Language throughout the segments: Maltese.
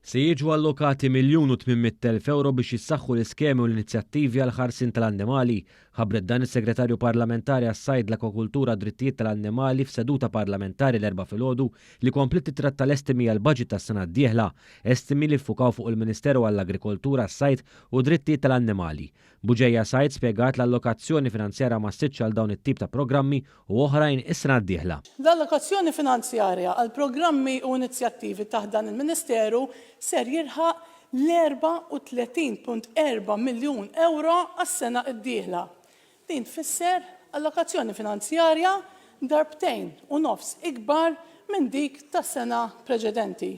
Se jiġu allokati miljun u tmien mitt elf ewro biex jissaħħu l-iskemi u l-inizjattivi għall-ħarsien tal-annimali. Ħabbret dan is-Segretarju Parlamentari għas-Sajd, l-Akwakultura u d-Drittijiet tal-Annimali f'seduta parlamentari l-Erbgħa filgħodu li kompliet tittratta l-estimi għall-baġit tas-sena d-dieħla, estimi li ffukaw fuq il-Ministeru għall-Agrikoltura, s-Sajd u d-Drittijiet tal-Annimali. Bugeja Said spjegat l-allokazzjoni finanzjarja ma ssirtx għal dawn it-tip ta' programmi u oħrajn is-sena d-dieħla. L-allokazzjoni finanzjarja għall-programmi u inizjattivi taħt dan il-Ministeru ser jilħaq l-34.4 miljun ewro għas-sena d-dieħla. Din tfisser allokazzjoni finanzjarja darbtejn u nofs ikbar minn dik tas-sena preċedenti.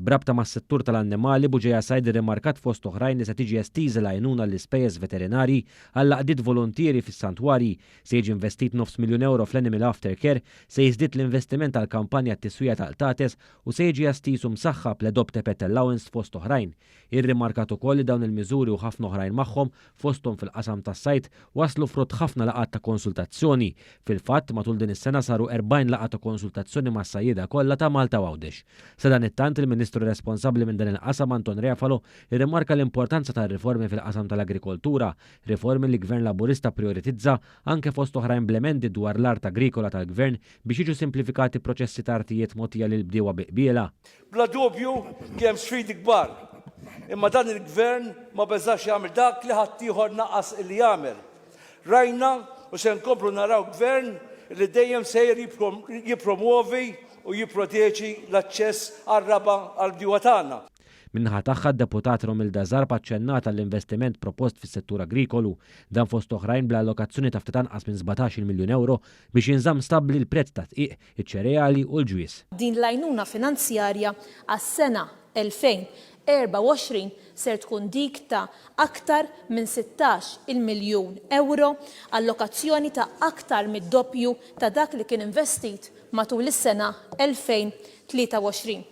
B'rabta mas-settur tal-annimali, Buġeja Said irrimarkat fost oħrajn li se tiġi estiża l-għajnuna għall-ispejjeż veterinarji għall-għaqdiet voluntieri fis-santwarji, se jiġi investit nofs miljun ewro fl-Animal Aftercare, se jiżdied l-investiment għall-kampanja għat-tiswija ta' qtates u se jiġi estiż u msaħħab l-Adopt a Pet Allowance fost oħrajn. Irrimarkat ukoll li dawn il-miżuri u ħafna oħrajn magħhom Fosthom fil-qasam tas-sajd waslu frott ħafna laqgħat ta' konsultazzjoni. Fil-fatt, matul din is-sena saru 40 laqgħa ta' konsultazzjoni mas-sajjieda kollha ta' Malta u Għawdex. Sadanittant, il-Ministru responsabbli minn dan il-qasam Anton Refalo rrimarka l-importanza tar-riformi fil-qasam tal-agrikoltura, riformi li Gvern Laburista pprijoritizza anke fost oħrajn bl-emendi dwar l-art agrikola tal-Gvern biex jiġu simplifikati proċessi ta' artijiet mogħtija lill-bdiewa bi qbiela. Bla dubju kien hemm sfidi kbar, imma dan il-Gvern ma beżax jagħmel dak li ħaddieħor naqas illi jagħmel. Rajna u se nkomplu naraw Gvern li dejjem sejjer jippromwovi u jipproteġi l-aċċess għar-raba' għall-bdiewa tagħna. Min-naħa tagħha, d-Deputat Romilda Zarb aċċennat għall-investiment propost fis-settur agrikolu. Dan fost oħrajn bl-allokazzjoni ta' ftit anqas minn sbatax-il miljun ewro biex jinżamm stabbli l-prezz tad-dqiq iċ-ċereali u l-ġwież. Din l-għajnuna finanzjarja għas-sena 2024 ser tkun dik ta' aktar minn 16 il-miljun ewro, allokazzjoni ta' aktar mid-doppju ta' dak li kien investit matul is-sena 2023.